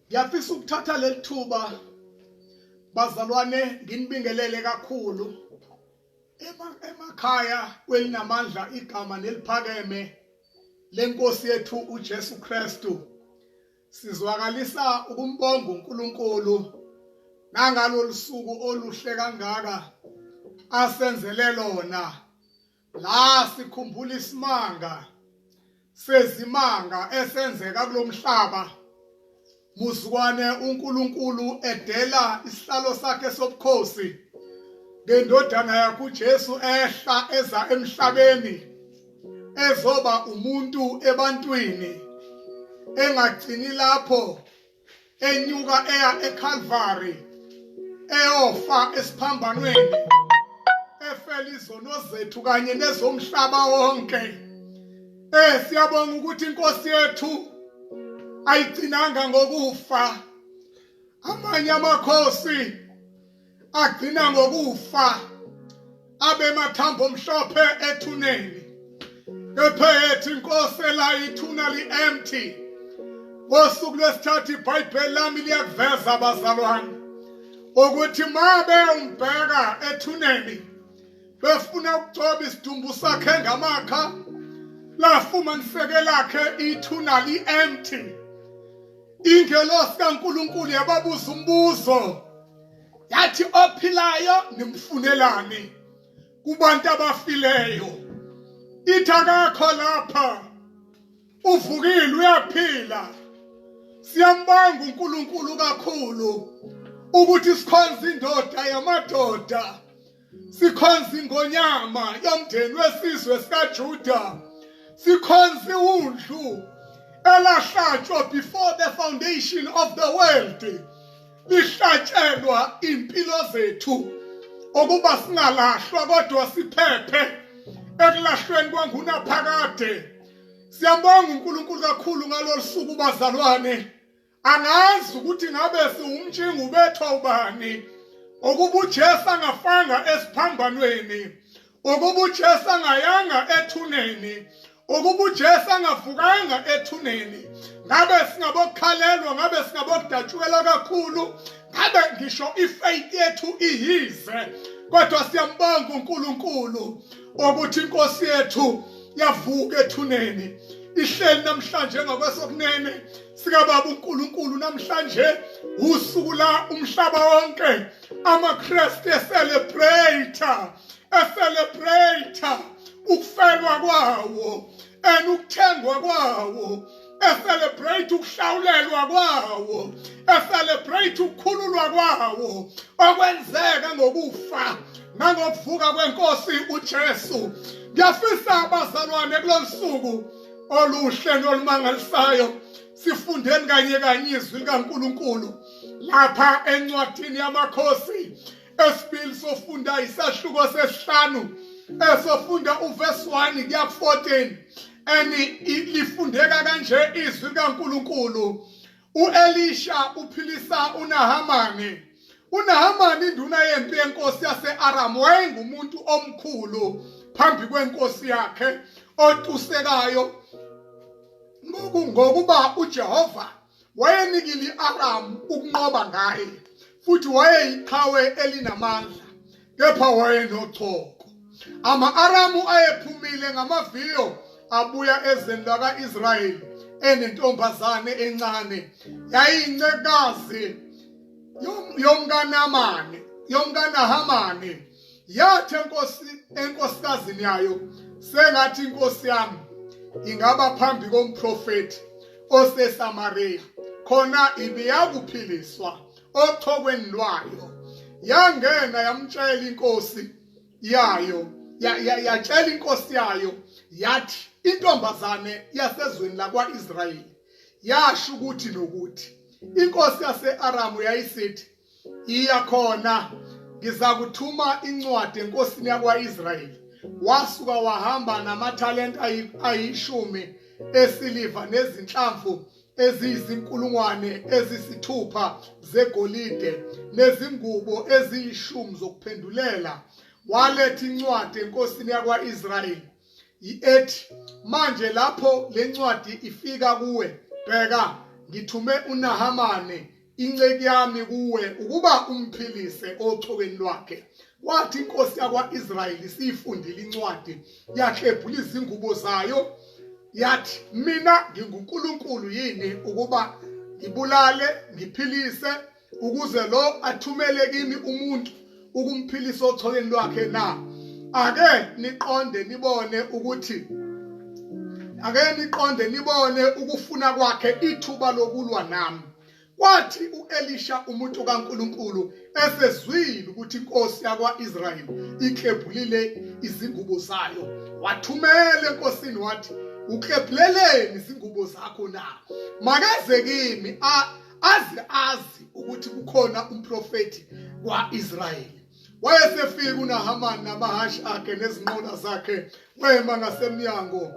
ngiyafisa ukuthatha leli thuba bazalwane nginibingelele kakhulu emakhaya kwelinamandla igama neliphakeme lenkosi yethu uJesu Kristu sizwakalisa ukumbonga uNkulunkulu nangalolu suku oluhle kangaka asenzele lona La sikhumbula isimanga sezimanga esenzeka kulomhlaba muzukwane uNkulunkulu edela isihlalo sakhe sobukhosi ngendodana yakhe uJesu ehla eza emhlabeni ezoba umuntu ebantwini engagcini lapho enyuka eya eCalvary eyofa esiphambanweni efela izono zethu kanye nezomhlaba wonke eh siyabonga ukuthi inkosi yethu ayigcinanga ngokufa amanye amakhosi agcina ngokufa abemathambo omhlophe ethuneni kepha ethi inkosi la ithuna li-empty ngosuku lwesithathu ibhayibheli lami liyakuveza abazalwane ukuthi ma bewumbheka ethuneni befuna ukugcoba isidumbu sakhe ngamakha lafumaniseke lakhe ithuna li-empty Ingelosi kaNkulunkulu yababuza umbuzo yathi ophilayo nimfunelani kubantu abafileyo ithi akakho lapha uvukile uyaphila siyambanga uNkulunkulu kakhulu ukuthi sikhonza indoda yamadoda sikhonza ingonyama yomndeni wesizwe sikaJuda sikhonza iwundlu elahlatshwa before the foundation of the world lihlatshelwa impilo zethu okuba singalahlwa kodwa siphephe ekulahlweni kwangunaphakade siyabonga uNkulunkulu kakhulu ngalolu suku bazalwane angazi ukuthi ngabe siwumtshinga ubethwa ubani ukuba uJesu angafanga esiphambanweni ukuba uJesu angayanga ethuneni ukuba uJesu angavukanga ethuneni ngabe singabokukhalelwa ngabe singabokudatshukelwa kakhulu ngabe ngisho ifaith yethu iyize kodwa siyambonga uNkulunkulu ukuthi inkosi yethu yavuka ethuneni ihleli namhlanje ngakwesokunene sikababa uNkulunkulu namhlanje usuku la umhlaba wonke amaKristu eselebrate eselebrate ukufelwa kwawo and ukuthengwa kwawo eselebrate ukuhlawulelwa kwawo eselebrate ukukhululwa kwawo okwenzeka ngokufa nangokuvuka kwenkosi uJesu ngiyafisa abazalwane kulolusuku oluhle nolumangalisayo sifundeni kanye kanye izwi likaNkuluNkulu lapha encwadini yamakhosi esibili sofunda isahluko sesihlanu esofunda uvesi 1 kuya ku-14 and lifundeka kanje izwi likaNkuluNkulu U-Elisha uphilisa uNahamani. UNahamani induna yempi yenkosi yase-Aram wayengumuntu omkhulu phambi kwenkosi yakhe otusekayo ngokuba uJehova wayenikile i-Aram ukunqoba ngaye futhi wayeyiqhawe elinamandla kepha wayenochoko. Ama-Aramu ayephumile ngamaviyo abuya ezweni laka-Israyeli enentombazane encane yayincekazi yomkanamane yomkanahamane yathi enkosi enkosikazini yayo sengathi inkosi yami ingaba phambi komprofeti oseSamaria khona ibiyakuphiliswa othokweni lwayo yangena yamtshela inkosi yayo yatshela inkosi yayo yathi intombazane yasezweni lakwa-israyeli yasho ukuthi nokuthi inkosi yase-aramu yayisithi iya khona ngizakuthuma incwadi enkosini yakwa-israyeli wasuka wahamba namathalenta ayishumi esiliva nezinhlamvu eziyizinkulungwane ezisithupha zegolide nezingubo eziyishumi zokuphendulela waletha incwadi enkosini yakwa-israyeli ethi manje lapho le ncwadi ifika kuwe bheka ngithume unahamane Inceki yami kuwe ukuba umphilise othokweni lwakhe. Kwathi inkosi yakwa-Israyeli siyifundile incwadi, yaklebhula izingubo zayo, yathi, Mina nginguNkulunkulu yini ukuba ngibulale, ngiphilise, ukuze lo athumele kimi umuntu? ukumphilisa ocholeni lwakhe na ake niqonde nibone ukuthi ake niqonde nibone ukufuna kwakhe ithuba lokulwa nami kwathi uElisha umuntu kaNkuluNkulu esezwile ukuthi inkosi yakwaIsrayeli iklebhulile izingubo zayo wathumela enkosini wathi uklebhuleleni izingubo zakho na makeze kimi azi azi ukuthi kukhona umprofeti kwaIsrayeli wayesefika uNahamani namahhashi akhe nezinqola zakhe wema ngasemnyango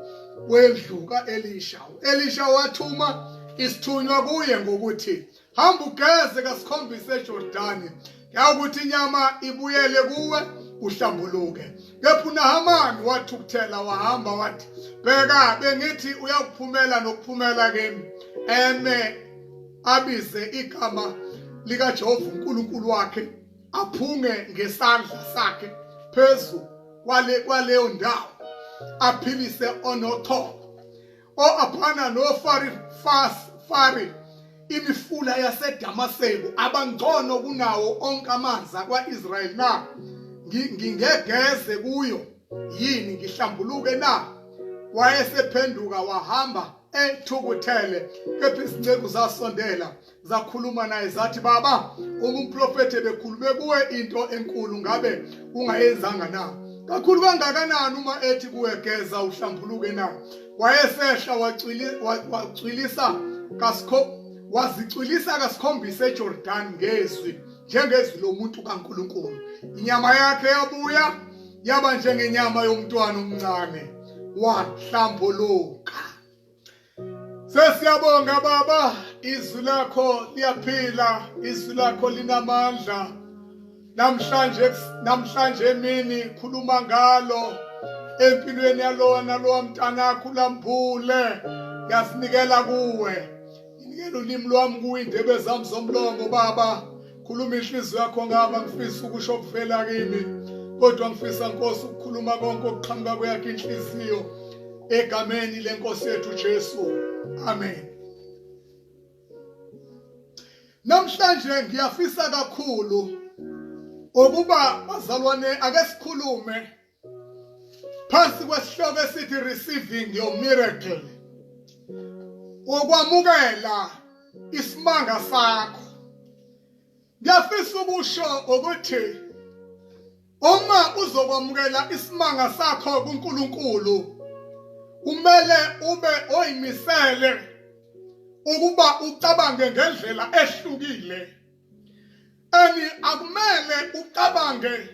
wendlu kaElisha uElisha wathuma isithunywa kuye ngokuthi hamba ugeze kasikhombise eJordani yawukuthi inyama ibuyele kuwe uhlambuluke kepha unahamani wathukuthela wahamba wathi bheka bengithi uyakuphumela nokuphumela kimi eme abize igama likajehova unkulunkulu wakhe aphunge ngesandla sakhe phezu kwale kwaleyo ndawo aphilise onothongo o-Abhana noFarifari, imifula yaseDamaseko, abangcono kunawo onke amanzi akwa-Israyeli na? Ngingegeze kuyo yini ngihlambuluke na? Wayesephenduka wahamba ethukuthele, kepha izinceku zasondela zakhuluma naye zathi baba uma umprofethi ebekhulume kuwe into enkulu ngabe ungayenzanga na kakhulu kangakanani uma ethi kuwe geza uhlambuluke na wayesehla wacwilisa kasikho wazicwilisa kasikhombisa eJordan ngezwi njengezwi lomuntu kaNkuluNkulu inyama yakhe yabuya yaba njengenyama yomntwana omncane wahlambuluka Sesiyabonga baba izwi lakho liyaphila izwi lakho linamandla namhlanje namhlanje emini khuluma ngalo empilweni yalona lowa mntanakho ulambule ngiyasinikela kuwe nginikela ulimi lwami kuwe indebe zami zomlomo baba khuluma inhliziyo yakho ngaba ngifisa ukusho kuvela kimi kodwa ngifisa nkosi ukukhuluma konke okuqhamuka kweyakhe inhliziyo egameni lenkosi yethu Jesu amen namhlanje ngiyafisa kakhulu ukuba bazalwane ake sikhulume phansi kwesihloko esithi receiving your miracle ukwamukela isimanga sakho ngiyafisa ukusho ukuthi uma uzokwamukela isimanga sakho kuNkulunkulu kumele ube oyimisele ukuba ucabange ngendlela ehlukile and akumele ucabange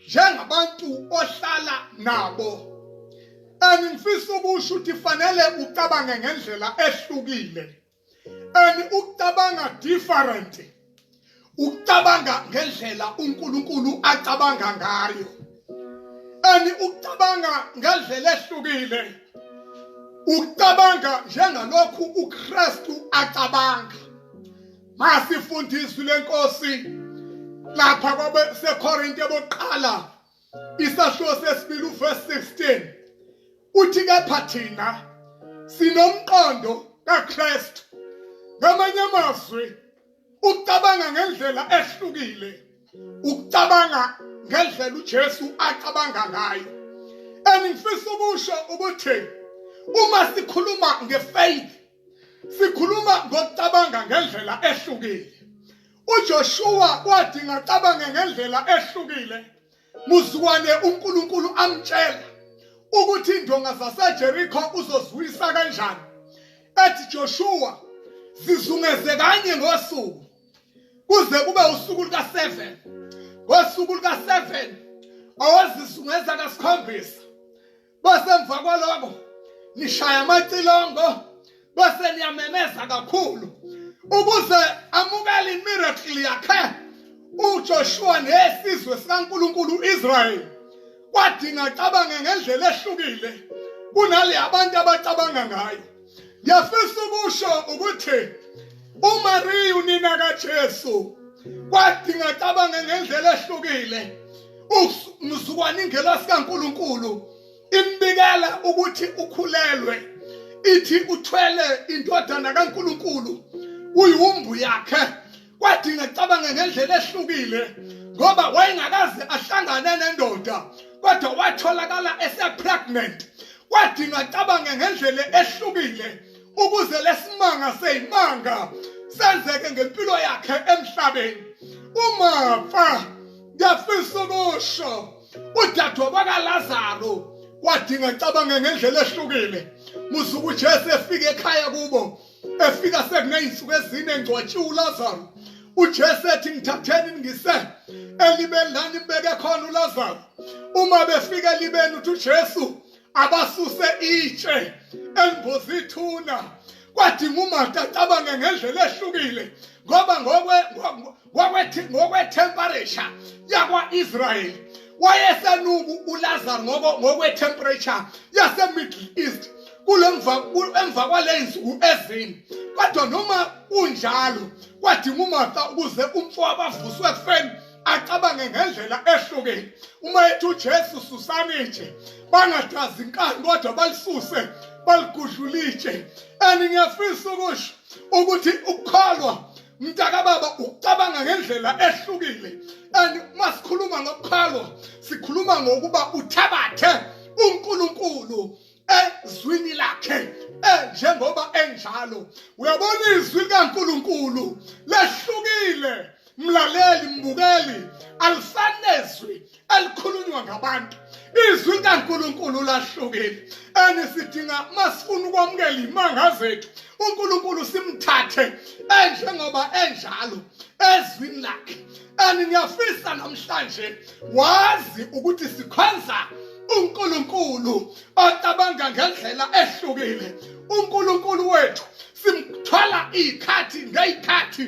njengabantu ohlala nabo and ngifisa ukusho ukuthi fanele ucabange ngendlela ehlukile and ukucabanga different ukucabanga ngendlela uNkulunkulu acabanga ngayo and ukucabanga ngendlela ehlukile ucabanga njengalokhu uKristu acabanga Masifunda izwi lenkosi lapha kwabeseKorinte bokuqala isahluko sesibili uverse 16 uthi kepha thina sinomqondo kaKristu ngamanye amazwi ucabanga ngendlela ehlukile ukucabanga ngendlela uJesu acabanga ngayo engifisa ukusho ukuthi uma sikhuluma ngefaith Sikhuluma ngokucabanga ngendlela ehlukile. UJoshua kwathi ngacabanga ngendlela ehlukile. Muzukwane uNkulunkulu amtshela ukuthi indonga zaseJericho uzozwisa kanjani. Ethi Joshua zizungeze kanye ngosuku kuze kube usuku luka-7 ngosuku luka-7 awazizungeza kasikhombisa bese emva kwaloko nishaya amacilongo bese niyamemeza kakhulu ukuze amukele imiracle yakhe uJoshua nesizwe sikaNkuluNkulu uIsrael kwadinga cabange ngendlela ehlukile kunale abantu abacabanga ngayo Ngiyafisa ukusho ukuthi uMariya unina kaJesu kwadinga cabanga ngendlela ehlukile umzukwane ingela sikaNkuluNkulu imbikela ukuthi ukhulelwe ithi uthwele indodana kaNkuluNkulu uyiwumbu yakhe kwadinga cabange ngendlela ehlukile ngoba wayengakaze ahlangane nendoda kodwa watholakala esepregnant kwadinga cabange ngendlela ehlukile ukuze lesimanga seyimanga senzeke ngempilo yakhe emhlabeni umafa ngiyafisa ukusho udadwa bakalazaro wadinga cabange ngendlela ehlukile musuku ujesu efika ekhaya kubo efika sekuney'nsuku ezine ngcwatshiwe ulazaro ujesu ethi ngithatheni ngise elibeni lani mbeke khona ulazaro uma befika elibeni uthi ujesu abasuse itshe elimboza ithuna kwadinga umarta acabange ngendlela ehlukile ngoba ngokwe ngokwethemperature yakwa-israyeli wayesenuku ulazaro ngokwethemperature yasemiddle east emva kwaley'nsuku ezini kodwa noma kunjalo kwadinga umartha ukuze umfo abavuswe ekufeni acabange ngendlela ehlukile uma ethi uJesu susani nje bangadazi inkani kodwa balisuse baligudlulitshe and ngiyafisa ukusho ukuthi ukukholwa mntaka baba ucabanga ngendlela ehlukile and uma sikhuluma ngokuqhalwa sikhuluma ngokuba uthabathe uNkulunkulu ezwini lakhe njengoba enjalo uyabona izwi likaNkulunkulu lehlukile mlaleli mbukeli alisanezwi elikhulunywa ngabantu izwi likaNkulunkulu lahlukile and sidinga masifuna ukwamukela imanga zethu uNkulunkulu simthathe enjengoba enjalo ezwini lakhe and ngiyafisa namhlanje wazi ukuthi sikhonza uNkulunkulu ocabanga ngendlela ehlukile uNkulunkulu wethu simthola iy'khathi ngey'khathi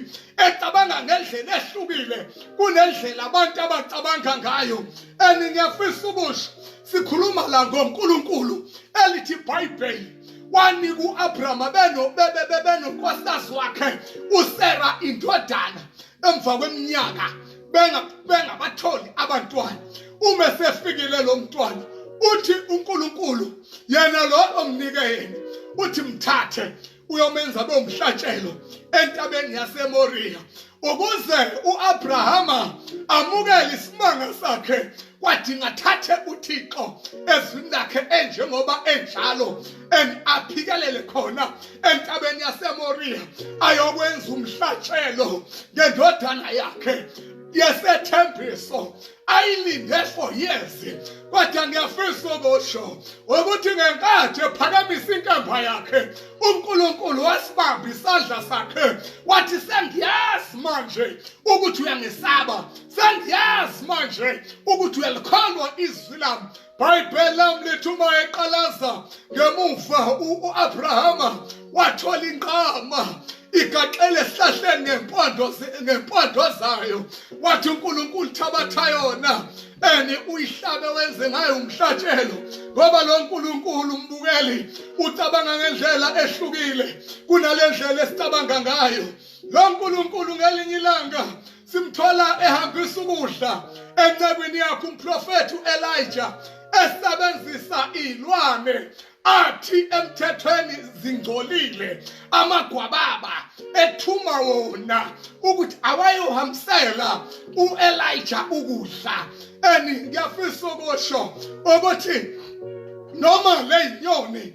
ecabanga ngendlela ehlukile kunendlela abantu abacabanga ngayo and ngiyafisa ubusho sikhuluma la ngonkulunkulu elithi ibhayibheli wanika u-abrahama benonkosikazi wakhe usera indodana emva kweminyaka bengabatholi abantwana uma sefikile lo mntwana uthi uNkulunkulu yena lo omnike yena uthi mthathe uyomenza bomhlatshelo entabeni yaseMoriya ukuze uAbrahama amukele isimanga sakhe kwadinga thathe uThixo ezwini lakhe enjengoba enjalo and aphikelele khona entabeni yaseMoria ayokwenza umhlatshelo ngendodana yakhe yesethembiso ayilinde for years kodwa ngiyafisa ukusho ukuthi ngenkathi ephakamisa inkemba yakhe uNkulunkulu wasibamba isandla sakhe wathi sengiyazi manje ukuthi uyangisaba sendiyazi manje ukuthi uyalikholwa izwi lami bhayibheli lami lithi uma eqalaza ngemuva u-abrahama wathola inqama igaxele esihlahleni ngempondo ngempondo zayo wathi uNkulunkulu thabatha yona ene uyihlabe wenze ngayo umhlatshelo ngoba lo Nkulunkulu umbukeli ucabanga ngendlela ehlukile kunalendlela esicabanga ngayo lo Nkulunkulu ngelinye ilanga simthola ehambisa ukudla encekwini yakhe umprofethi uElijah esebenzisa ilwane athi emthethweni zingcolile amagwababa ethuma wona ukuthi awayohambisela uElijah ukudla and ngiyafisa ukusho ukuthi noma leyinyoni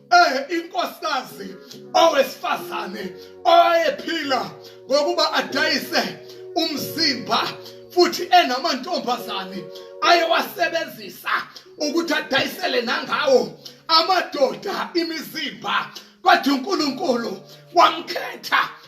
eh inkosikazi owesifazane owayephila ngokuba adayise umzimba futhi enamantombazane ayewasebenzisa ukuthi adayisele nangawo amadoda imizimba kodwa uNkulunkulu wamkhetha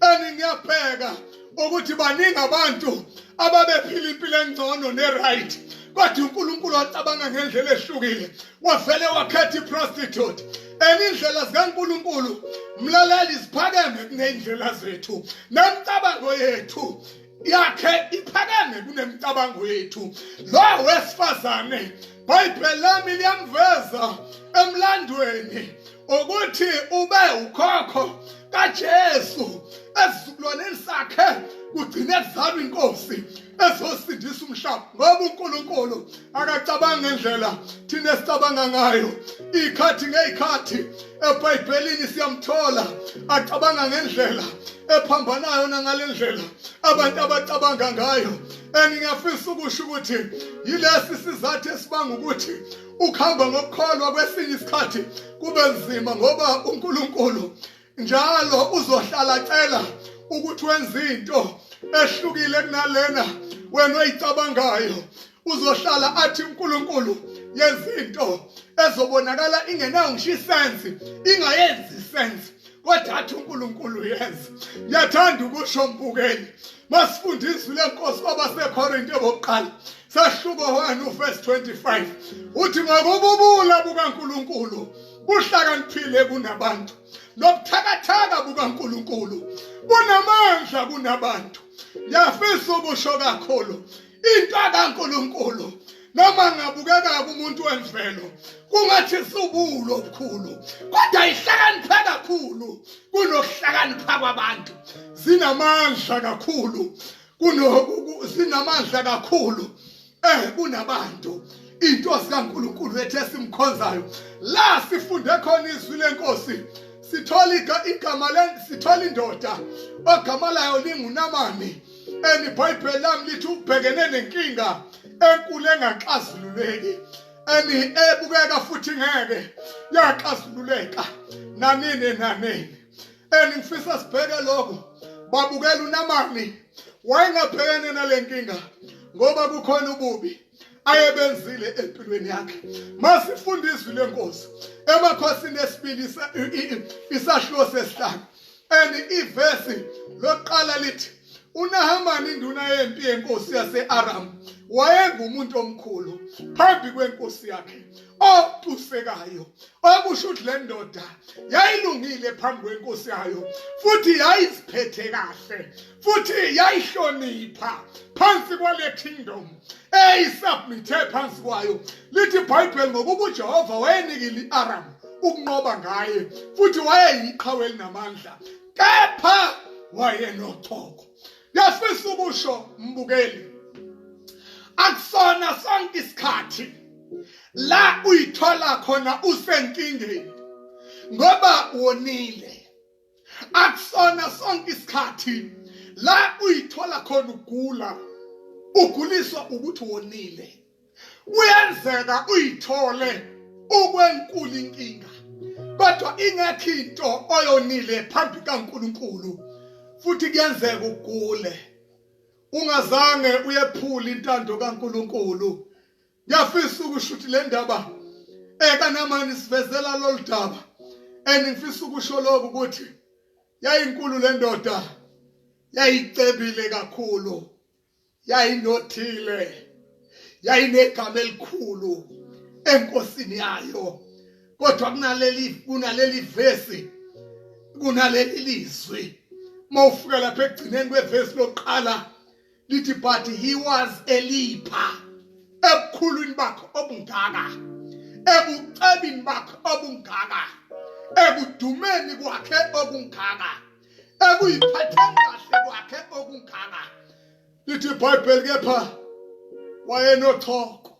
and ngiyabheka ukuthi baningi abantu ababephila impilo engcono ne-right kodwa unkulunkulu wacabanga ngendlela ehlukile wavele wakhetha i-prostitute enye indlela zikankulunkulu mlaleli ziphakeme kuney'ndlela zethu nemicabango yethu yakhe iphakeme kunemicabango yethu lo wesifazane bhayibheli lami liyamveza emlandweni ukuthi ube ukhokho kaJesu esizukulwaneni sakhe kugcine kuzalwa inkosi ezosindisa umhlaba ngoba uNkulunkulu akacabangi ngendlela thina esicabanga ngayo ikhathi ngeyikhathi ebhayibhelini siyamthola acabanga ngendlela ephambanayo nangalendlela abantu abacabanga ngayo and ngiyafisa ukusho ukuthi yilesi sizathu esibanga ukuthi ukuhamba ngokukholwa kwesinye isikhathi kube nzima ngoba uNkulunkulu njalo uzohlala cela ukuthi wenze into ehlukile kunalena wena oyicabangayo uzohlala athi uNkulunkulu yezinto ezobonakala ingenayo ngisho isense ingayenzi isense kodwa athi uNkulunkulu yenza ngiyathanda ukusho mbukeli masifunda izwi lenkosi kwabasekorinte bokuqala sahluko 1 uvesi 25 uthi ngokububula bukankulunkulu buhlakaniphile kunabantu nobuthakathaka bukaNkulunkulu bunamandla kunabantu ngiyafisa ukusho kakhulu into kaNkulunkulu noma ngabukeka kumuntu wemvelo kungathi subulo obukhulu kodwa ihlakaniphe kakhulu kunokuhlakanipha kwabantu zinamandla kakhulu kunoku zinamandla kakhulu eh kunabantu intosi kaNkuluNkulu ethe simkhonzayo la sifunde khona izwi lenkosi sithola igama le sithola indoda ogama layo lingunamani and ibhayibheli lami lithi ubhekene nenkinga enkulu engaxazululeki and ebukeka futhi ngeke yaxazululeka nanini nanini and ngifisa sibheke lokho babukela uNamani wayengabhekene nalenkinga ngoba kukhona ububi ayebenzile empilweni yakhe masifunda izwi lenkosi emakhosini esibili isashilo sesihlanu and ivesi lokuqala lithi uNahamani induna yempi yenkosi yaseAram wayengumuntu omkhulu phambi kwenkosi yakhe opusekayo okusho ukuthi le ndoda yayilungile phambi kwenkosi yayo futhi yayiziphethe kahle futhi yayihlonipha phansi kwale kingdom eyisubmithe phansi kwayo lithi ibhayibheli ngokuba ujehova wayenikile i-aram ukunqoba ngaye futhi wayeyiqhawe elinamandla kepha wayenochoko Ngiyafisa ukusho mbukeli akusona sonke isikhathi la uyithola khona usenkingeni ngoba wonile akusona sonke isikhathi la uyithola khona ugula uguliswa ukuthi wonile kuyenzeka uyithole ukwenkulu inkinga kodwa ingekho into oyonile phambi kaNkuluNkulu futhi kuyenzeka ugule ungazange uyephula intando kaNkuluNkulu ngiyafisa ukusho ukuthi le ndaba ekanamani eh, sivezela lolu daba and ngifisa ukusho lokhu ukuthi yayinkulu le ndoda yayicebile kakhulu yayinothile yayinegama elikhulu enkosini yayo kodwa kunaleli kunaleli vesi kunaleli lizwi mawufika lapha ekugcineni kwevesi lokuqala lithi but he was a leaper ebukhulwini bakhe obungaka ebucebini bakhe obungaka ekudumeni kwakhe obungaka ekuyiphatheni kahle kwakhe okungaka lithi ibhayibheli kepha wayenochoko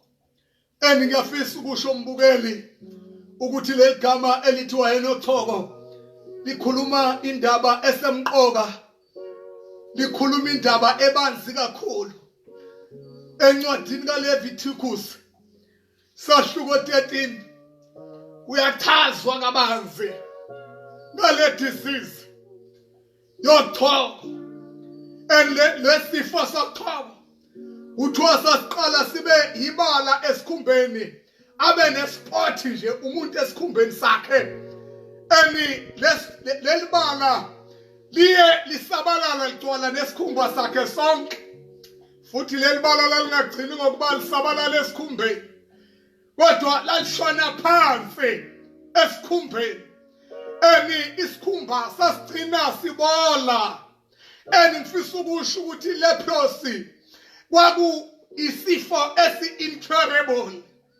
and ngiyafisa ukusho umbukeli ukuthi leli gama elithi wayenochoko likhuluma indaba esemqoka likhuluma indaba ebanzi kakhulu encwadini kaLevitikus Sahluko 13 kuyachazwa kabanzi ngale disease yochoko and lesifo sochoko kuthiwa sasiqala sibe yibala esikhumbeni abe nespot nje umuntu esikhumbeni sakhe ani lelibala liye lisabalala ligcwala nesikhumba sakhe sonke futhi leli bala lalingagcini ngokuba lisabalala esikhumbeni kodwa lalishona phansi esikhumbeni eni isikhumba sasigcina sibola eni ngifisa ukusho ukuthi leprosi kwaku isifo esi-incurable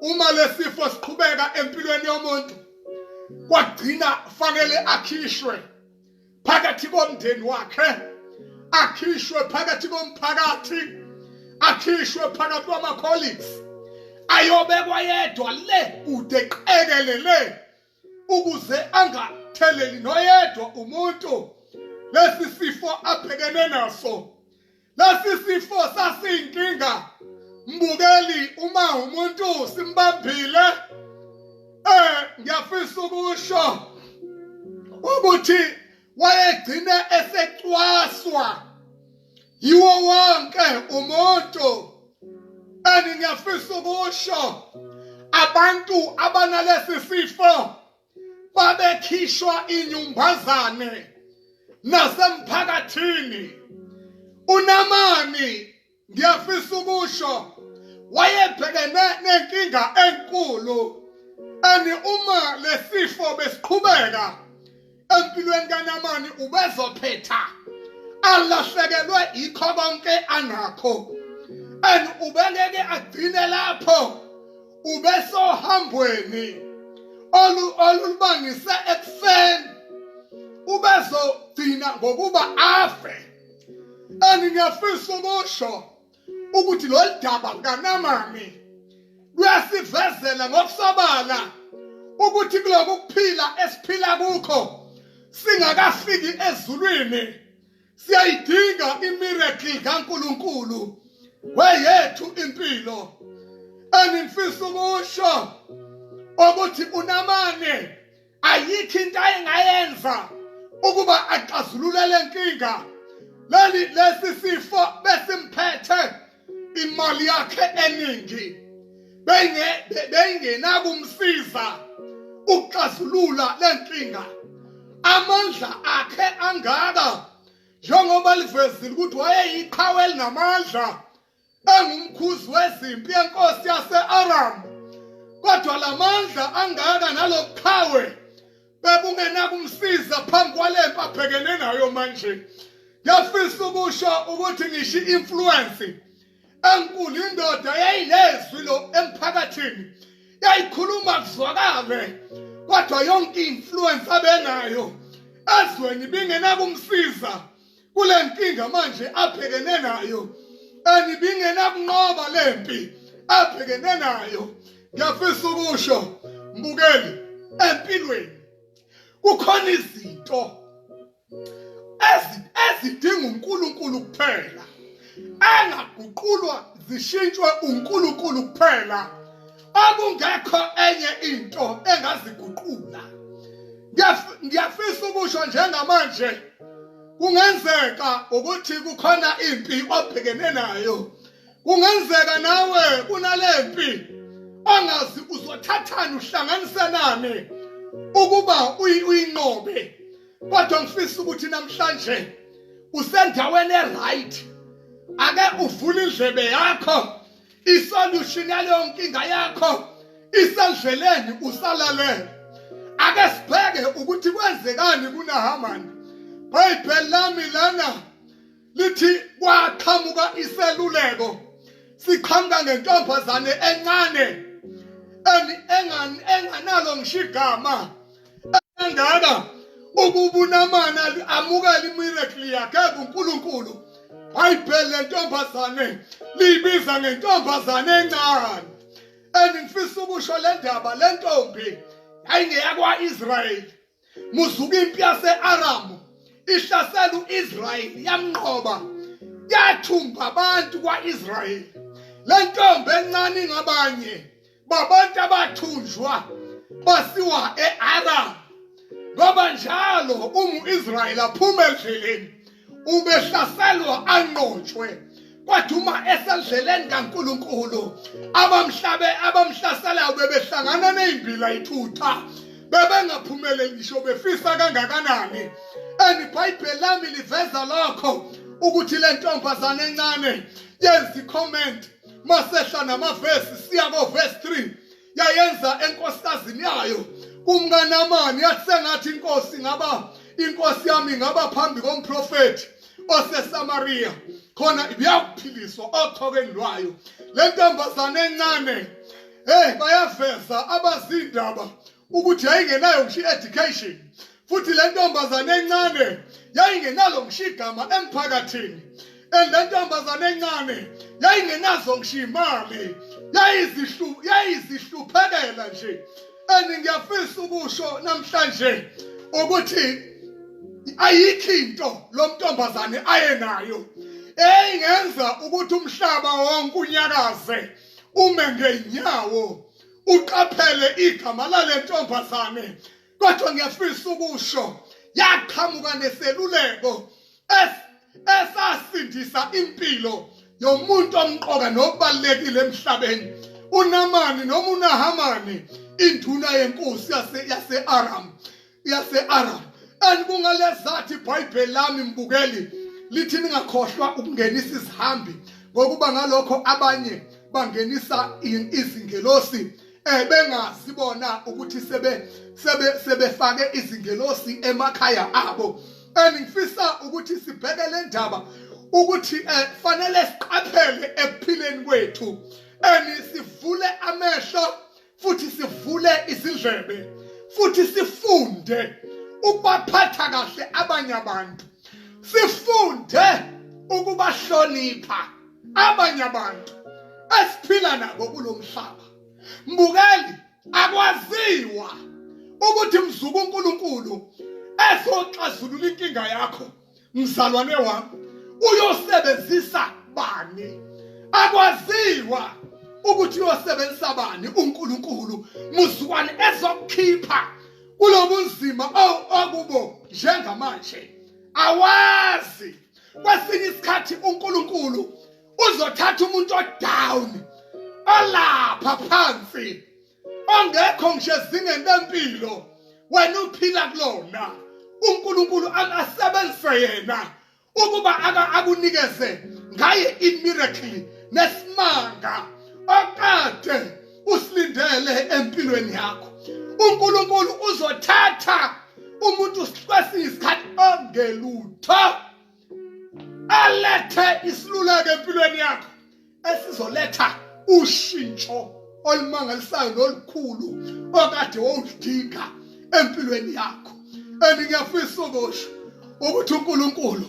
uma lesifo siqhubeka empilweni yomuntu kwagcina fanele akhishwe phakathi komndeni wakhe akhishwe phakathi komphakathi akhishwe phakathi kwama-colleagues ayobekwa yedwa le kude qekelele ukuze angatheleli noyedwa umuntu lesi sifo abhekene naso lesi sifo sasiyinkinga mbukeli uma umuntu simbambile eh ngiyafisa ukusho ukuthi wayegcine esecwaswa yiwo wonke umuntu and ngiyafisa ukusho abantu abanalesi sifo babekhishwa inyumbazane nasemphakathini unamani ngiyafisa ukusho wayebhekene nenkinga enkulu and uma lesifo besiqhubeka empilweni kaNamani ubezophetha alahlekelwe yikho konke anakho and ubengeke agcine lapho ubesohambweni olu olubangise ekufeni ubezogcina ngokuba afe and ngiyafisa ukusho ukuthi lolu daba lukaNamani luyasivezela ngokusobala ukuthi kuloku kuphila esiphila kukho singakafiki ezulwini siyayidinga imiracle kaNkuluNkulu weyethu impilo engifisa ukusho ukuthi unamane ayikho into ayengayenza ukuba axazulule le nkinga leli lesi sifo besimphethe imali yakhe eningi benge bengenakumsiza ukuxazulula le nkinga amandla akhe angaka njengoba livezile ukuthi wayeyiqhawe elinamandla engumkhuzi wezimpi yenkosi yase-aramu kodwa la mandla angaka nalobuqhawe bebungenakumsiza phambi kwale mpi abhekene nayo manje ngiyafisa ukusho ukuthi ngisho i-influence enkulu indoda yayinezwi lo emphakathini yayikhuluma kuzwakale kodwa yonke i-influence abenayo ezweni ibingenakumsiza kule nkinga manje abhekene nayo anibingenakunqoba le mpi abhekene nayo ngiyafisa ukusho mbukeli empilweni kukhona izinto ezidinga uNkulunkulu kuphela engaguqulwa zishintshwe uNkulunkulu kuphela okungekho enye into engaziguqula ngiyafisa ukusho njengamanje kungenzeka ukuthi kukhona impi obhekene nayo kungenzeka nawe kunalempi angazi uzothathani uhlanganisenani ukuba uyinqobe kodwa ngifisa ukuthi namhlanje usendaweni eright ake uvule indlebe yakho isolution yaleyo nkinga yakho isendleleni usalalele ake sibheke ukuthi kwenzekani kunahamani bhayibheli lami lana lithi kwaqhamuka iseluleko siqhamuka ngentombazane encane enganalo ngisho igama kangaka ukuba unamana amukela imiracle yakhe kuNkulunkulu bhayibheli lentombazane liyibiza ngentombazane encane and ngifisa ukusho le ndaba le ntombi yayingeyakwa-israyeli muzuka impi yase-aramu ihlasela u-israyeli yamnqoba yathumba abantu kwa-israyeli le ntombi encane ingabanye babantu abathunjwa basiwa e-aram ngoba njalo umu-israyeli aphuma endleleni ubehlaselwa anqotshwe kwathi uma esendleleni kaNkuluNkulu abamhlabe abamhlaselayo bebehlangana nezimbila ithutha bebengaphumeleli ngisho befisa kangakanani and iBhayibheli lami liveza lokho ukuthi le ntombazane encane yenza icomment masehla namavesi siya kovesi 3 yayenza enkosikazini yayo kumnganamani yathi sengathi inkosi ngaba inkosi yami ngaba phambi komprofethi oseSamaria khona ibiyakuphiliswa othokeni lwayo le ntombazane encane hey bayaveza abazindaba ukuthi yayingenayo ngisho i-education futhi le ntombazane encane yayingenalo ngisho igama emphakathini and le ntombazane encane yayingenazo ngisho imali yayizihluphekela nje and ngiyafisa ukusho namhlanje ukuthi ayikho into lo mntombazane aye nayo eyingenza ukuthi umhlaba wonke unyakaze ume ngeenyawo uqaphele igama lale ntombazane kodwa ngiyafisa ukusho yaqhamuka neseluleko esasindisa impilo yomuntu omqoka nokubalekile emhlabeni uNamani noma uNahamani induna yenkosi yase-Aram yase-Arab and kungalezathi iBhayibheli lami mbukeli lithi ningakhohlwa ukungenisa izihambi ngokuba ngalokho abanye bangenisa izingelosi eh bengazi bona ukuthi sebe sebe sebefake izingelosi emakhaya abo engifisa ukuthi sibheke le ndaba ukuthi eh fanele siqaphele ekuphileni kwethu and sivule amehlo futhi sivule izindlebe futhi sifunde ukubaphatha kahle abanye abantu sifunde ukubahlonipha abanye abantu esiphila nabo kulomhlaba mbukeli akwaziwa ukuthi mzuku uNkulunkulu ezoxazulula inkinga yakho mzalwane wami uyosebenzisa bani akwaziwa ukuthi uyosebenzisa bani uNkulunkulu muzukwane ezokukhipha kulobunzima okubo njengamanje awazi kwesinye isikhathi uNkulunkulu uzothatha umuntu odown olapha phansi ongekho ngisho ezingeni lempilo wena uphila kulona uNkulunkulu akasebenzise yena ukuba akunikeze ngaye imiracle nesimanga okade usilindele empilweni yakho uNkulunkulu uzothatha umuntu kwesinye isikhathi ongelutho alethe isiluleko empilweni yakho esizoletha ushintsho olumangalisayo nolukhulu okade wawudinga empilweni yakho and ngiyafisa ukusho ukuthi uNkulunkulu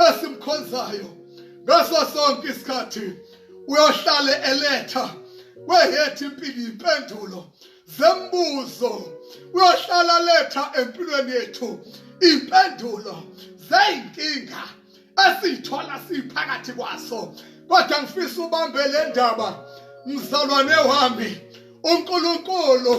esimkhonzayo ngaso sonke isikhathi uyohlale eletha kwehethu impilo impendulo zembuzo uyohlala letha empilweni yethu impendulo zeyinkinga esiyithola siphakathi kwaso kodwa ngifisa ubambe le ndaba mzalwane wami uNkulunkulu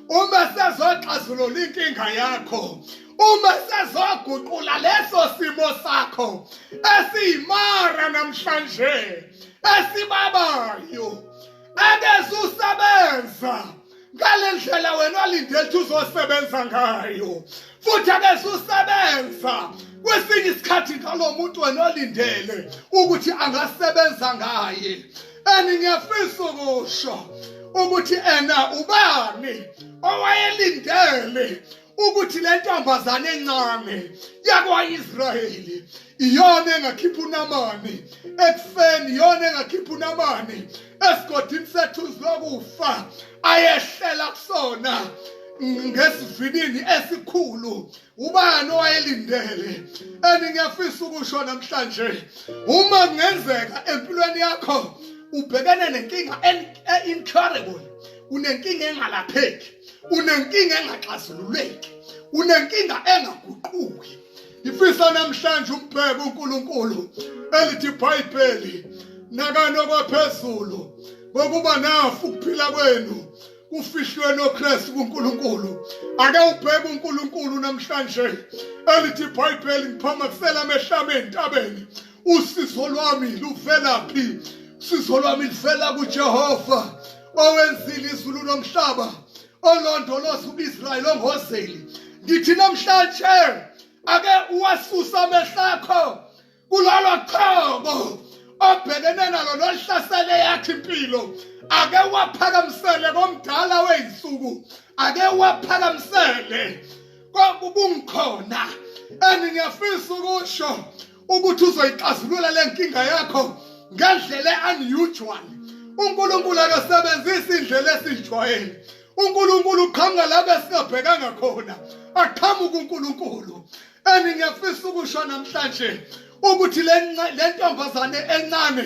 uma sezoxazulula inkinga yakho uma sezoguqula leso simo sakho esiyimara namhlanje esibabayo akezusebenza ngale ndlela wena walindela ukuthi uzosebenza ngayo futhi akeze usebenza kwesinye isikhathi ngalo muntu wena olindele ukuthi angasebenza ngaye and ngiyafisa ukusho ukuthi ena ubani owayelindele ukuthi le ntombazane encane yakwa-israyeli iyona engakhipha unamani ekufeni iyona engakhipha unamani esigodini sethu zokufa ayehlela kusona ngesivinini esikhulu ubani owayelindele and ngiyafisa ukusho namhlanje uma kungenzeka empilweni yakho ubhekene nenkinga e-, e-incurable unenkinga engalapheki unenkinga engaxazululeki unenkinga engaguquki ngifisa namhlanje umbheke uNkulunkulu elithi iBhayibheli nakano kwaphezulu ngokuba nafu ukuphila kwenu kufihlwe noKristu kuNkulunkulu ake ubheke uNkulunkulu namhlanje elithi iBhayibheli ngiphamakisela amehlame entabeni usizo lwami luvelaphi usizo lwami luvela kuJehova owenzile izulu nomhlaba olondoloza uIsrael ongozeli ngithi namhlanje ake uwasusa amehlakho kulolo choko obhekene nalo nohlasele yakhe impilo ake waphakamisele komdala weyinsuku ake waphakamisele kwakukungikhona and ngiyafisa ukusho ukuthi uzoyixazulula le nkinga yakho ngendlela unusual uNkulunkulu akasebenzisi indlela esijwayele uNkulunkulu uqhamuka lapho esingabhekanga khona aqhamuka uNkulunkulu engingefisa ukusho namhlanje ukuthi le ntombazane encane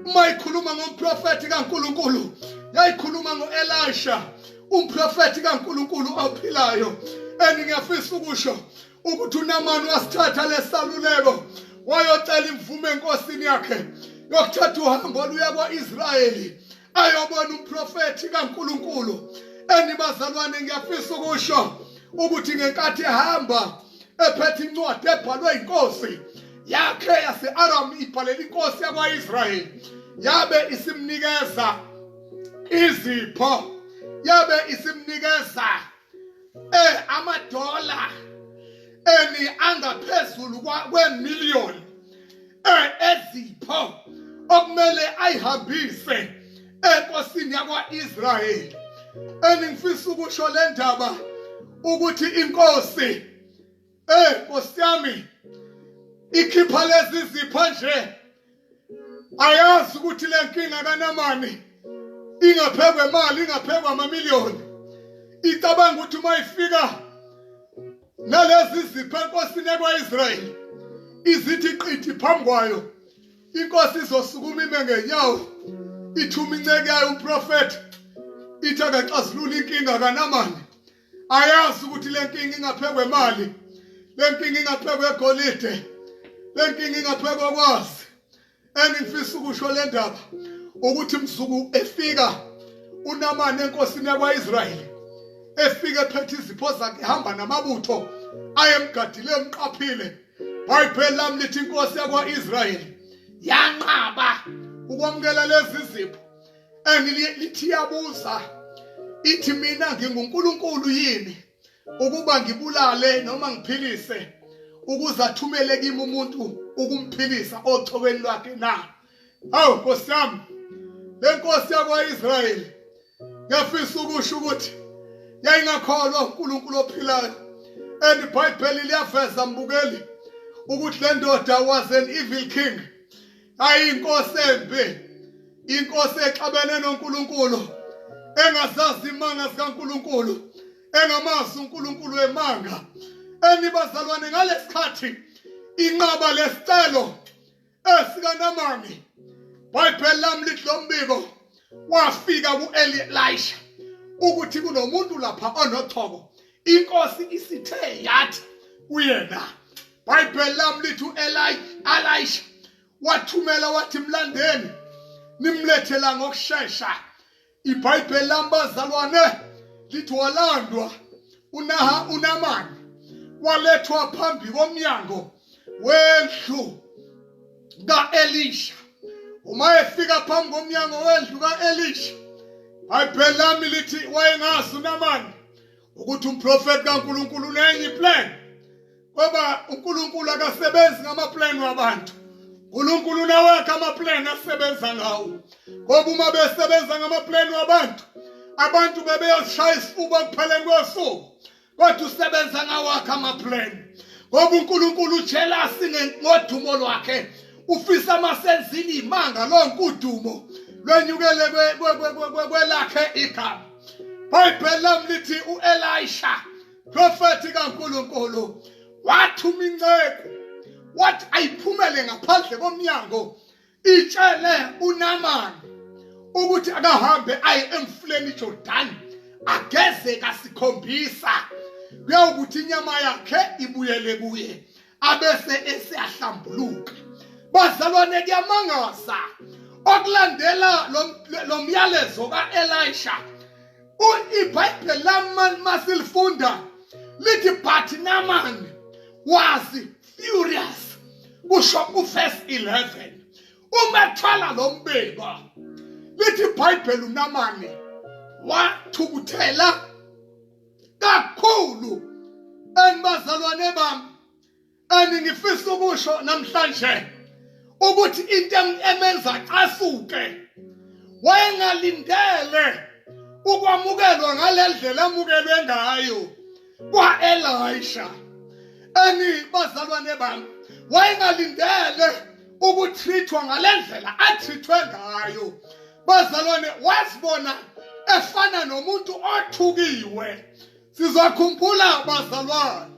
uma ikhuluma ngomprofethi kaNkulunkulu yayikhuluma ngoElisha umprofethi kaNkulunkulu ophilayo engingefisa ukusho ukuthi unamani wasithatha lesaluleko wayocela imvume enkosini yakhe yokuthatha uhambo oluya kwa-israyeli ayobona umprofethi kankulunkulu enibazalwane ngiyafisa ukusho ukuthi ngenkathi ehamba ephethe incwadi ebhalwe inkosi yakhe yase-aramu ibhalela inkosi yakwa-israyeli yabe isimnikeza izipho yabe isimnikeza eh amadola eni angaphezulu kwemillion eh ezipho okumele ayihambise enkosini yakwaIsrayeli eningifisa ukusho le ndaba ukuthi inkosi eh nkosi yami ikhipha lezi zipho nje ayazi ukuthi le nkinga kanamani ingaphekwa imali ingaphekwa amamiliyoni icabanga ukuthi uma ifika nalezi zipho enkosini ekwa-israyeli izithi qithi phambi kwayo inkosi izosukuma ime ngenyawo ithuma inceke yayo umprofethi ithi akaxazulula inkinga kanamani ayazi ukuthi le nkinga ingaphekwa imali le nkinga ingaphekwa egolide le nkinga ingaphekwa kwazi engifisa ukusho le ndaba ukuthi mzuku efika unamane enkosini yakwa-israyeli efike ephethe izipho zakhe ehamba namabutho ayemgadile emqaphile bhayibheli lami lithi inkosi yakwa-israyeli yanqaba ukwamukela lezi zipho and lithi yabuza ithi mina nginguNkulunkulu yini ukuba ngibulale noma ngiphilise ukuze athumele kimi umuntu ukumphilisa ochoweni lwakhe na awu nkosi yami le nkosi yakwa-israyeli yafisa ukusho ukuthi yayingakholwa unkulunkulu ophilayo and ibhayibheli liyaveza mbukeli ukuthi le ndoda was an evil king hayi inkosi embi inkosi exabene noNkulunkulu engazazi imanga zikaNkulunkulu engamazi uNkulunkulu wemanga enibazalwane ngalesikhathi inqaba lesicelo esikanamani bhayibheli lami lithi lo mbiko wafika ku-eli elisha ukuthi kunomuntu lapha onochoko inkosi isithe yathi kuyena bhayibheli lami lithi u-elisha wathumela wathi mlandeni nimlethela ngokushesha ibhayibheli lami bazalwane lithi walandwa unaha unamani walethwa phambi komnyango wendlu ka-elisha uma efika phambi komnyango wendlu ka-elisha bhayibheli lami lithi wayengazi unamani ukuthi umprofeti kankulunkulu unenye iplan ngoba unkulunkulu akasebenzi ngamaplan wabantu unkulunkulu unawakhe amaplan asebenza ngawo ngoba uma besebenza ngamaplan wabantu abantu bebeyozishaya isifuba ekupheleni kosuku kodwa usebenza ngawakhe amaplan ngoba unkulunkulu ujelasi ngodumo lwakhe ufisa amasenzini imanga lonke udumo lwenyukele kwelakhe igama bhayibheli lami lithi u-elisha profethi kankulunkulu wathuma inceku wathi ayiphumele ngaphandle komnyango itshele unamani ukuthi akahambe aye emfuleni Jordan ageze kasikhombisa kuyawukuthi inyama yakhe ibuyele kuye abese eseyahlambuluka bazalwane kuyamangaza okulandela lo myalezo ka-elisha ibhayibheli lamani masilifunda lithi but namani wazi furious kusho uverse 11 uma thwala lo mbeba lithi ibhayibheli unamane wathukuthela kakhulu enibazalwane bami aningifisa ukusho namhlanje ukuthi into emenza casuke wayengalindele ukwamukelwa ngalendlela amukelwe ngayo kwaElisha ani bazalwane bami wayengalindele ukutrithwa ngalendlela atrithwe ngayo bazalwane wasibona efana nomuntu othukiwe sizakhumbula bazalwane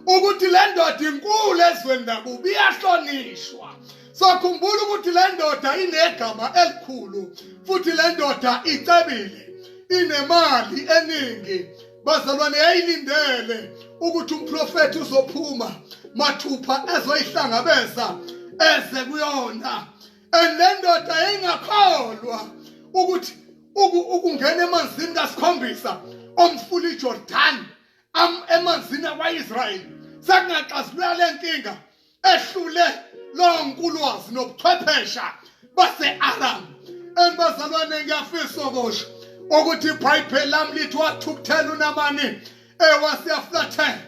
ukuthi le ndoda inkulu ezweni lakubi iyahlonishwa sakhumbula ukuthi le ndoda inegama elikhulu futhi le ndoda icebile inemali eningi bazalwane yayilindele ukuthi umprofethi uzophuma mathupha ezoyihlangabeza eze kuyona and le ndoda yayingakholwa ukuthi ukungena emanzini kasikhombisa omfula ijordani emanzini akwa-israyeli sekungaxazulula le nkinga ehlule lonkulwazi nobuchwephesha base-aram and bazalwane ngiyafisa okusho ukuthi ibhayibheli lami lithi wathukuthela unamani ewasiyaflathela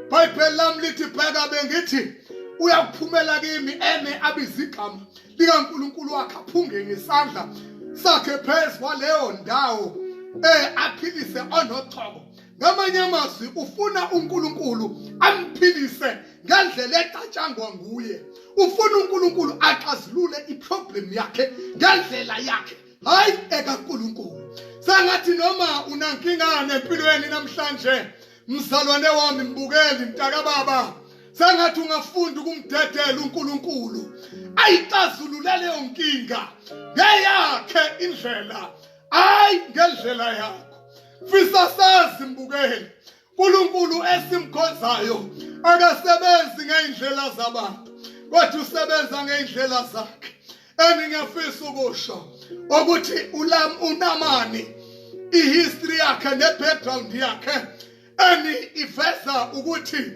ibhayibheli lami lithi bheka bengithi uyakuphumela kimi eme abizigama likankulunkulu wakhe aphunge ngesandla sakhe phezu kwaleyo ndawo eh aphilise onochoko ngamanye amazwi ufuna uNkulunkulu amphilise ngendlela edatshangwa nguye ufuna uNkulunkulu axazulule iproblem yakhe ngendlela yakhe hayi ekaNkulunkulu sengathi noma unankinga nempilweni namhlanje mzalwane wami mbukeli mntaka baba sengathi ungafunda ukumdedela uNkulunkulu ayixazulule leyo nkinga ngeyakhe indlela hayi ngendlela yakhe fisa sazi mbukeli uNkulunkulu esimkhonzayo akasebenzi ngeindlela zabantu kodwa usebenza ngeindlela zakhe engingafisa ukusho ukuthi ulam unamani ihistory yakhe nebackground yakhe eni iveza ukuthi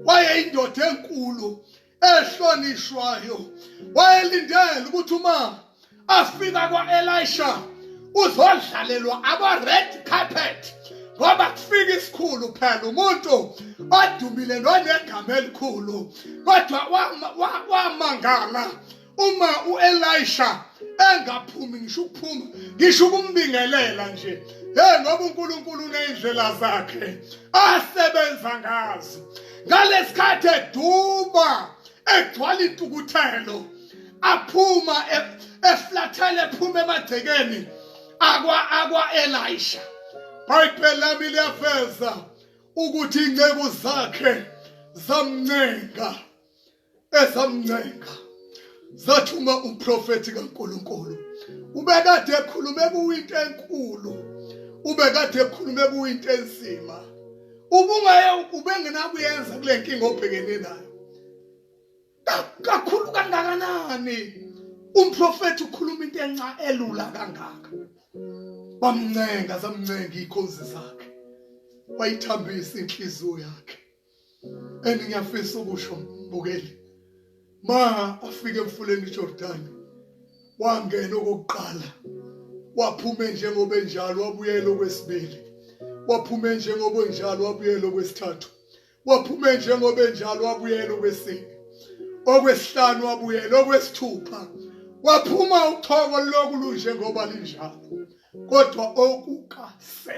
wayeyindoda enkulu ehlonishwayo wayelindele ukuthi uma afika kwa-elisha uzodlalelwa aba-red carpet ngoba kufika isikhulu phela umuntu odumile nonegama elikhulu kodwa wamangala uma uElisha engaphumi ngisho ukuphuma ngisho ukumbingelela nje hey ngoba uNkulunkulu unezindlela zakhe asebenza ngazo ngalesikhathi eduba egcwala itukuthelo aphuma e- eflathele ephuma emagcekeni akwa akwa Elisha iBhayibheli lami liyaveza ukuthi inceku zakhe zamncenga ezamncenga zathuma umprofethi kaNkuluNkulu ubekade ekhulume kuyinto enkulu ubekade ekhulume kuyinto enzima ubungaye ubengenakuyenza kule nkinga obhekene nayo kakhulu kangakanani umprofethi ukhuluma into enca elula kangaka bamncenga zamncenga ikhonzi zakhe wayithambisa inhliziyo yakhe and ngiyafisa ukusho mbukeli ma afike emfuleni iJordan wangena okokuqala waphume njengoba enjalo wabuyela okwesibili waphume njengoba enjalo wabuyela okwesithathu waphume njengoba enjalo wabuyela okwesini okwesihlanu wabuyela okwesithupha waphuma uthoko loku lunjengoba linjalo kodwa okuka-7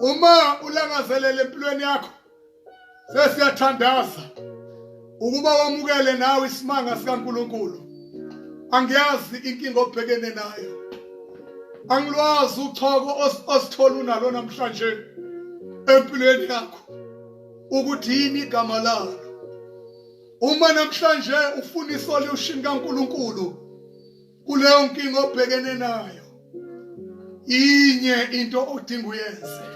uma ulangazelele empilweni yakho sesiyathandaza ukuba wamukele nawe isimanga sikaNkuluNkulu angiyazi inkinga obhekene nayo angilwazi uchoko osithola unalo namhlanje empilweni yakho ukuthi yini igama lalo uma namhlanje ufuna isolution kaNkuluNkulu kuleyo nkinga obhekene nayo inye into odinga uyenze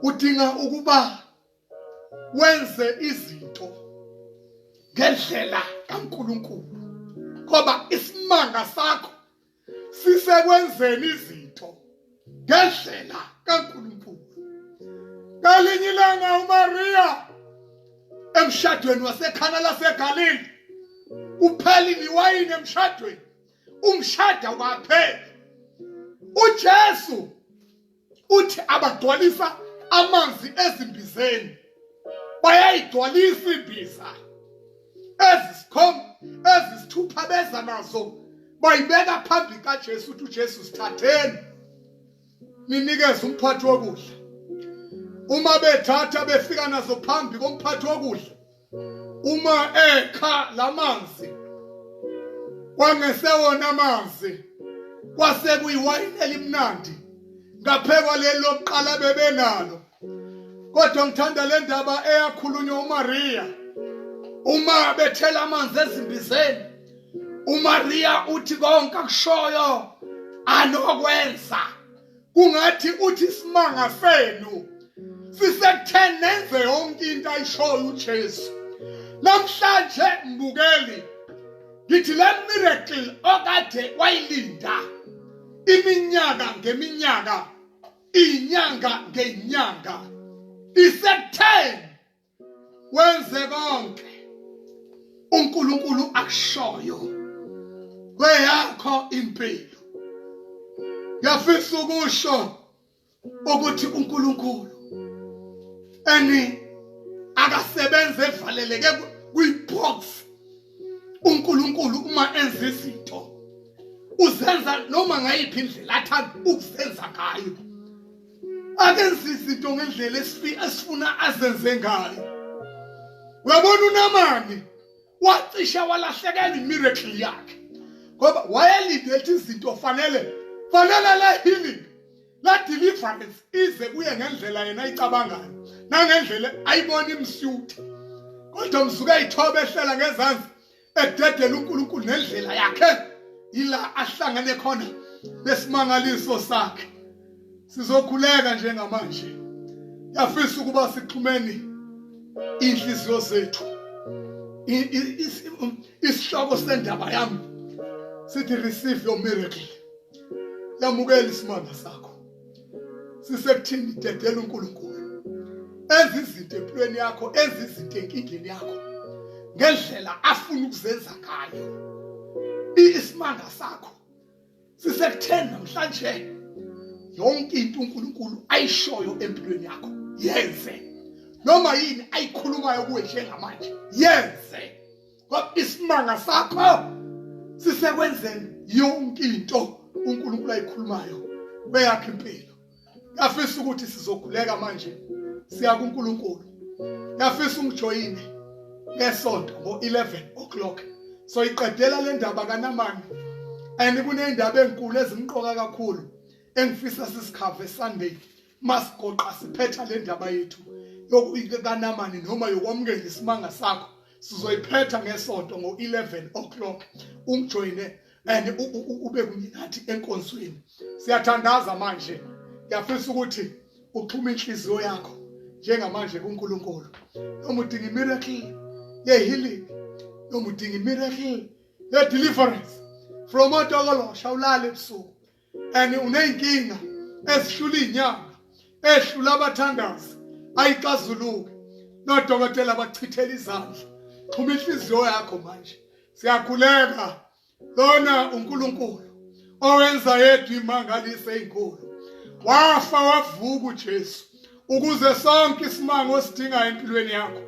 udinga ukuba wenze izinto ngendlela kaNkuluNkulu ngoba isimanga sakho sisekwenzeni izinto ngendlela kaNkulunkulu ngalinye ilanga uMaria emshadweni wasekhana laseGalili kuphela iwayini emshadweni umshada waphela uJesu uthi abagcwalisa amanzi ezimbizeni bayayigcwalisa imbiza ezisikhomba ezisithupha beza nazo bayibeka phambi kaJesu uthi uJesu sithatheni ninikeze umphathi wokudla uma bethatha befika nazo phambi komphathi wokudla uma ekha lamanzi kwangesewona amanzi kwase kuyiwayini elimnandi ngaphekwa leli lokuqala bebenalo kodwa ngithanda le ndaba eyakhulunywa uMaria uma bethela amanzi ezimbizeni uMaria uthi konke akushoyo anokwenza kungathi uthi isimanga senu sisekutheni nenze yonke into ayishoyo uJesu namhlanje mbukeli ngithi le miracle okade wayilinda iminyaka ngeminyaka inyanga ngenyanga isekutheni wenze konke uNkulunkulu akushoyo kweyakho impilo ngiyafisa ukusho ukuthi uNkulunkulu eni akasebenze evaleleke kwibox uNkulunkulu uma enza izinto uzenza noma ngayiphi indlela athanda ukuzenza ngayo akenza izinto ngendlela esifuna azenze ngayo uyabona unamani wacisha walahlekelwa imiracle yakhe ngoba wayelinde ukuthi izinto fanele fanele la healing la deliverance ize kuye ngendlela yena ayicabangayo nangendlela ayibona imsutha kodwa msuke ayithoba ehlela ngezansi ededela uNkulunkulu nendlela yakhe ila ahlangane khona nesimangaliso sakhe sizokhuleka njengamanje yafisa ukuba sixhumeni inhliziyo zethu isihloko sendaba yami sithi receive your miracle yamukela isimanga sakho sisekuthini dedela uNkulunkulu enza izinto empilweni yakho enza izinto enkingeni yakho ngendlela afuna ukuzenza ngayo isimanga sakho sisekutheni namhlanje yonke into uNkulunkulu ayishoyo empilweni yakho yenze noma yini ayikhulumayo kuwe njengamanje yenze kodwa isimanga sakho sisekwenzeni yonke into uNkulunkulu ayikhulumayo beyakhe impilo ngafisa ukuthi sizokhuleka manje siya kuNkulunkulu ngafisa ungijoyine ngesonto ngo-11 o'clock so iqedela le ndaba kanamani and kuney'ndaba ey'nkulu ezimqoka kakhulu engifisa sisikhave sunday masigoqa siphetha le ndaba yethu yokukanamani noma yokwamukela isimanga sakho sizoyiphetha ngesonto ngo-11 o'clock ungijoyine and ube kunye nathi enkonzweni siyathandaza manje ngiyafisa ukuthi uxhume inhliziyo yakho njengamanje kuNkulunkulu noma udinga imiracle yehealing noma udinga imiracle ye deliverance from odokolo shawulala ebusuku and uneyinkinga ezihlula inyanga ehlula abathandazi ayixazuluke nodokotela bachithela izandla xhuma inhliziyo yakho manje siyakhuleka lona uNkulunkulu owenza yedwa imangalise inkulu wafa wavuka uJesu ukuze sonke isimanga osidingayo empilweni yakho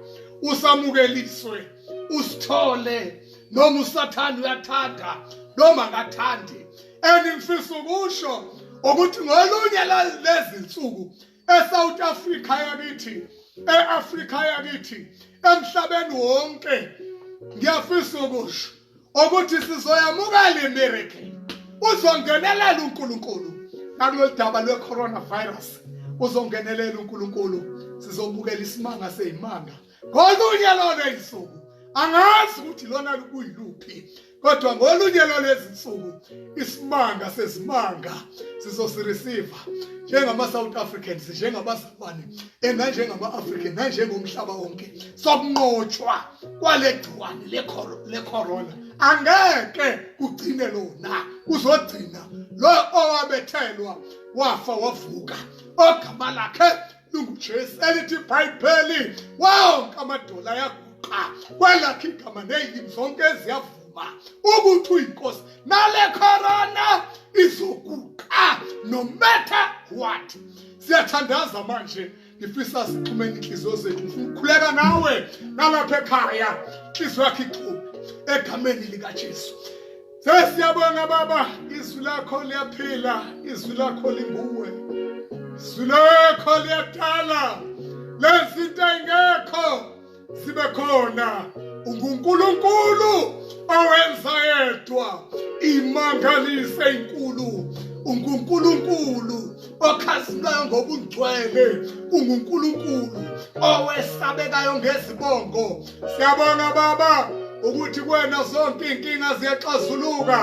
usamukeliswe usithole noma usathanda uyathanda noma akathandi engifisa ukusho ukuthi ngolunye lezinsuku eSouth Africa yakithi eAfrica yakithi emhlabeni wonke ngiyafisa ukusho ukuthi sizoyamukela imiracle uzongenelela uNkulunkulu nakulolu daba lwe-coronavirus uzongenelela uNkulunkulu sizobukela isimanga seyimanga ngolunye lolo insuku angazi ukuthi lona kuyiluphi kodwa ngolunye lolo ezinsuku isimanga sezimanga sizosireceive njengama-south africans njengama gciwane enganjengama-african nanjengomhlaba wonke sokunqotshwa kwale gciwane lecorona angeke kugcine lona kuzogcina lo owabethelwa wafa wavuka ogama lakhe lungujesu elithi ibhayibheli wonke amadola ayaguqa kwelakhe igama neyilimi zonke eziyavuka izovuma ukuthi uyinkosi nale corona izoguqa no matter what siyathandaza manje ngifisa sixhumene inhliziyo zethu ngifuna ukukhuleka nawe nalapha ekhaya inhliziyo yakho ichume egameni likaJesu sesiyabonga baba izwi lakho liyaphila izwi lakho linguwe izwi lakho liyadala lezinto engekho sibe khona unguNkulunkulu owenza yedwa imangaliso enkulu unguNkulunkulu okhazimulayo ngobungcwele unguNkulunkulu owesabekayo ngezibongo siyabonga baba ukuthi kwena zonke inkinga ziyaxazuluka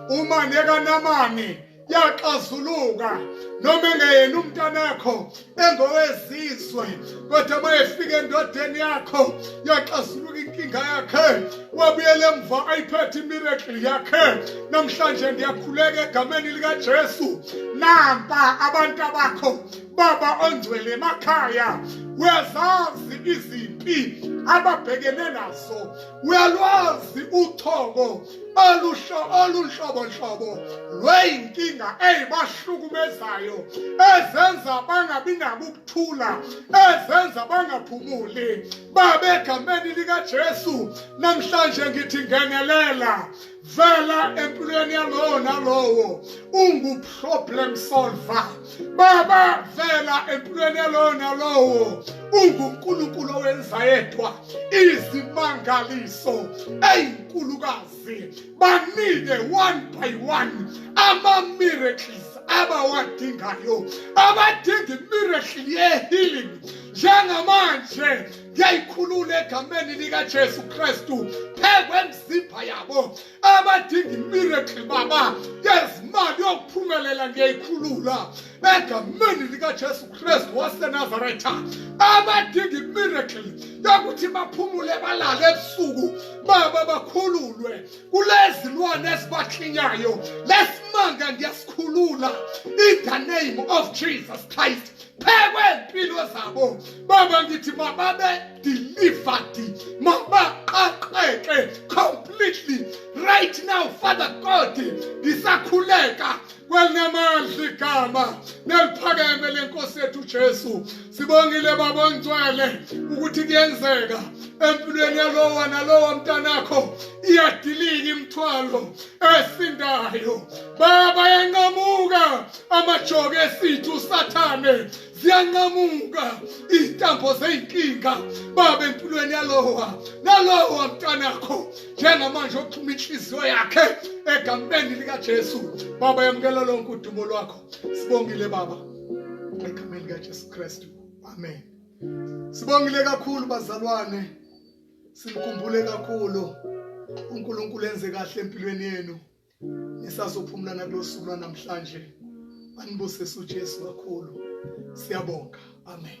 uma nekanamani yaxazuluka noma engeyena umntanakho engowezizwe kodwa uma efika endodeni yakho yaxazuluka inkinga yakhe wabuyela emva ayiphethe imiracle yakhe namhlanje ndiyakhuleka egameni likajesu nampa abantu abakho baba ongcwele emakhaya uyazazi izimpi ababhekene nazo uyalwazi uthoko olunhlobonhlobo lweyinkinga eyibahlukumezayo ezenza bangabi nabo ukuthula ezenza bangaphumuli babe egameni likajesu namhlanje ngithi ngenelela vela empilweni yalowo nalowo unguproblem solver baba vela empilweni yalowo nalowo ungunkulunkulu owenza yedwa izimangaliso eyinkulukazi banike one by one ama-miracles abawadingayo abadinga imiracle ye-healing njengamanje ngiyayikhulula egameni likajesu kristu phekwe mzimba yabo abadinga imiracle baba yezimali yokuphumelela ngiyayikhulula egameni likajesu kristu wasenazaretha abadinga imiracle yokuthi baphumule balale ebusuku baba bakhululwe kulezi lwane ezibaklinyayo lesimanga ngiyasikhulula in the name of jesus christ phekwe impilo zabo baba ngithi mababe delivered mabaqaqeke completely right now father god ngisakhuleka kwelinamandla igama neliphakeme lenkosi yethu jesu sibongile baba ongcwele ukuthi kuyenzeka empilweni yalowa nalowa mntanakho iyadilika imithwalo esindayo baba yanqamuka amajoke esithu usathane ziyanqamuka izintambo zeyinkinga baba empilweni yalowa nalowa mntanakho njengamanje oxhuma inhliziyo yakhe egameni likaJesu baba yamukela lonke udumo lwakho sibongile baba egameni likaJesu Kristu amen sibongile kakhulu bazalwane simkhumbule kakhulu uNkulunkulu enze kahle empilweni yenu nisazophumula nakulosuku lwanamhlanje anibusise uJesu kakhulu siyabonga amen